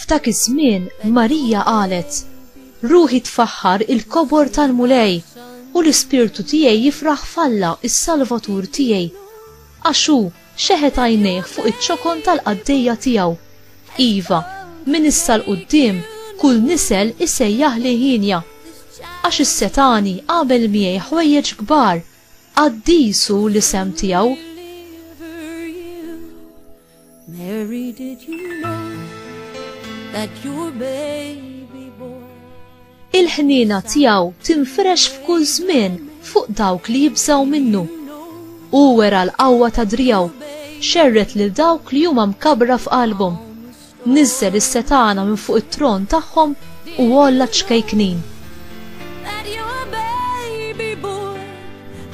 F'dak iż-żmien Marija qalet, Ruħi tfaħħar il-kobor tal-Mulej, u l-ispirtu tiegħi jifraħ f'Alla, is-Salvatur tiegħi. Għax hu xeħet għajnejh fuq iċ-ċokon tal-qaddejja tiegħu. Iva, minn issa 'l quddiem kull nisel isejjaħli hienja. Għax is-setgħani għamel miegħi ħwejjeġ kbar, qaddis hu l-isem tiegħu. Mary, did you know that your baby boy Il-ħniena tiegħu tinfrex f'kull żmien fuq dawk li jibżgħu minnu. Hu wera l-qawwa ta' driegħu, xerred lil dawk li huma mkabbra f'qalbhom. Niżżel is-setgħana minn fuq it-tron tagħhom u għolla ċ-ċkejknin. that your baby boy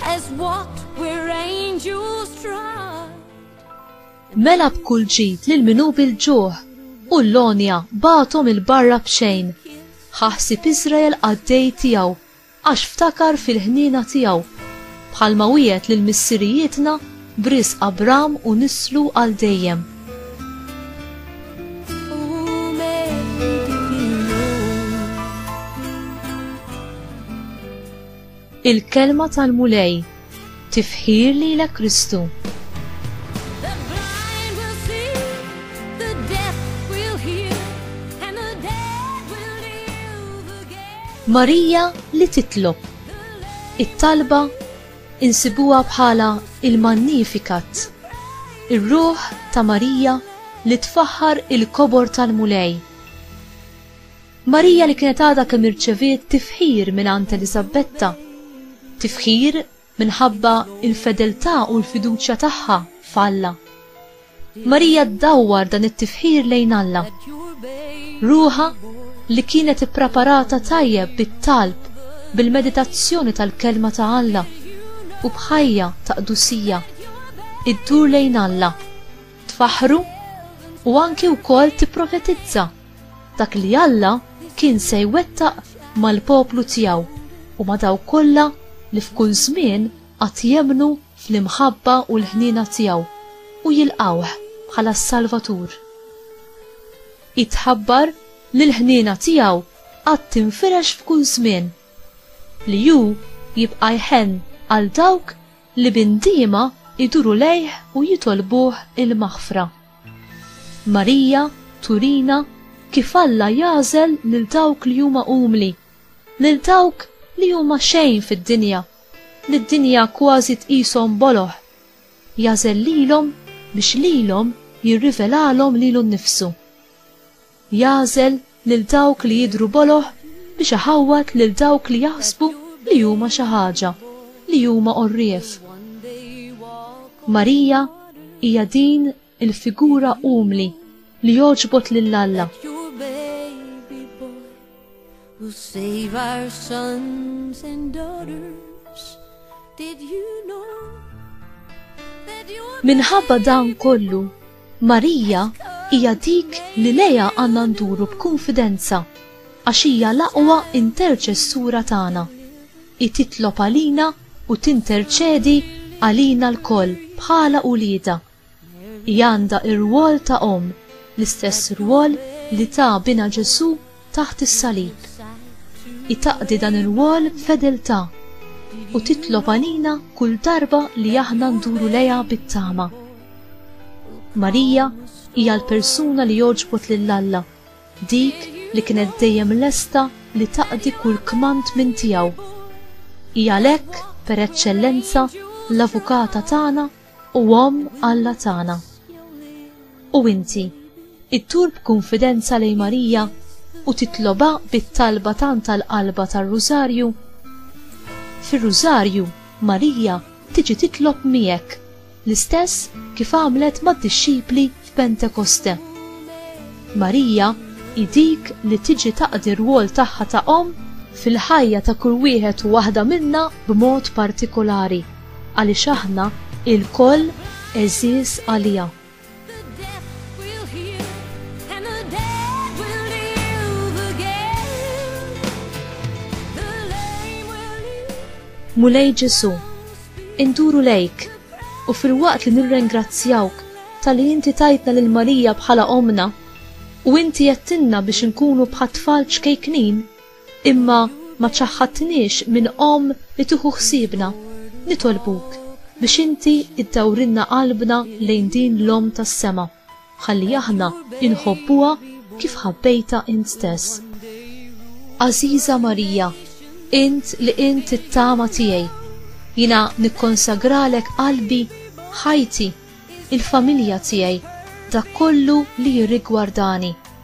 has walked where angels trod. Mela b'kull ġid lil min hu bil-ġuħ, u l-għonja bagħathom 'il barra b'xejn. Ħa ħsieb Iżrael qaddej tiegħu, għax ftakar fil-ħniena tiegħu, bħalma wiegħed lil missirijietna b'risq Abram u nislu għal dejjem. Il-Kelma tal-Mulej, Tifħir lilek Kristu. Marija li titlob. It-talba insibuha bħala il-Magnificat, ir-ruħ ta' Marija li tfaħħar il-kobor tal-Mulej. Marija li kienet għadha kemm irċeviet tifħir mingħand Eliżabetta, tifħir minħabba l-fedeltà u l-fiduċja tagħha f'Alla. Marija ddawwar dan it-tifħir lejn Alla. Ruħha li kienet ippreparata tajjeb bit-talb bil-meditazzjoni tal-kelma ta' Alla u bħajja ta' qdusija iddur lejn Alla, tfaħħru u anki wkoll tipprofetizza. Dak li Alla kien se jwettaq mal-poplu tiegħu u ma' dawk kollha li f'kull żmien għad jemmnu fl-imħabba u l-ħniena tiegħu u jilqgħuh bħala s-Salvatur. Hi tħabbar li l-ħniena tiegħu għad tinfirex f'kull żmien, li hu jibqa' jħenn għal dawk li b'indiema jduru lejh u jitolbuh il-maħfra. Marija turina kif Alla jagħżel lil dawk li huma umli, lil dawk li huma xejn fid-dinja, li d-dinja kważi tqishom boloh. Jagħżel lilhom biex lilhom jirrivelalhom lilu nnifsu. Jagħżel lil dawk li jidhru boloh biex iħawwad lil dawk li jaħsbu li huma xi ħaġa, li huma għorrief. Marija hija din il-figura umli li jogħġbot lil Alla. We'll save our sons and daughters. Did you know that you Minħabba dan kollu, Marija hija dik li leja għandna nduru b'kunfidenza għax hija l-aqwa interċessura tagħna. Hi titlob għalina u tinterċedi għalina lkoll bħala uliedha. Hi għandha r-rwol ta' omm, l-istess rwol li ta binha Ġesù taħt is-salib. Hi taqdi dan ir-rwol b'fedeltà u titlob għalina kull darba li aħna nduru lejha bit-tama. Marija hija l-persuna li għoġbot lil Alla, dik li kienet dejjem lesta li taqdi kull kmand minn tiegħu. Hi għalhekk, per eċċellenza, l-Avukata tagħna u Omm Alla tagħna. U inti, iddur b'kunfidenza lejn Marija u titlobha bit-talba tant tal-qalba tar-Rużarju? Fir-Rużarju, Marija tiġi titlob miegħek, l-istess kif għamlet mad-dixxipli f'Pentekoste. Marija hi dik li tiġi taqdi r-rwol tagħha ta' Omm fil-ħajja ta' kull wieħed u waħda minna b'mod partikolari. Għaliex aħna ilkoll għeżież għaliha. Mulej Ġesù, induru lejk u filwaqt li nirrengrazzjawk tal-li inti tajtna lil Marija bħala ommna u inti għedtilna biex inkunu bħat-tfal ċkejknin, Imma ma ċaħħadtniex minn Omm li tieħu ħsiebna. Nitolbuk biex inti iddawrilna qalbna lejn din l-Omm tas-sema, ħalli aħna inħobbuha kif ħabbejtha int stess. Għażiża Marija, int li int it-tama tiegħi, jiena nikkonsagralek qalbi, ħajti, il-familja tiegħi, dak kollu li jirrigwardani.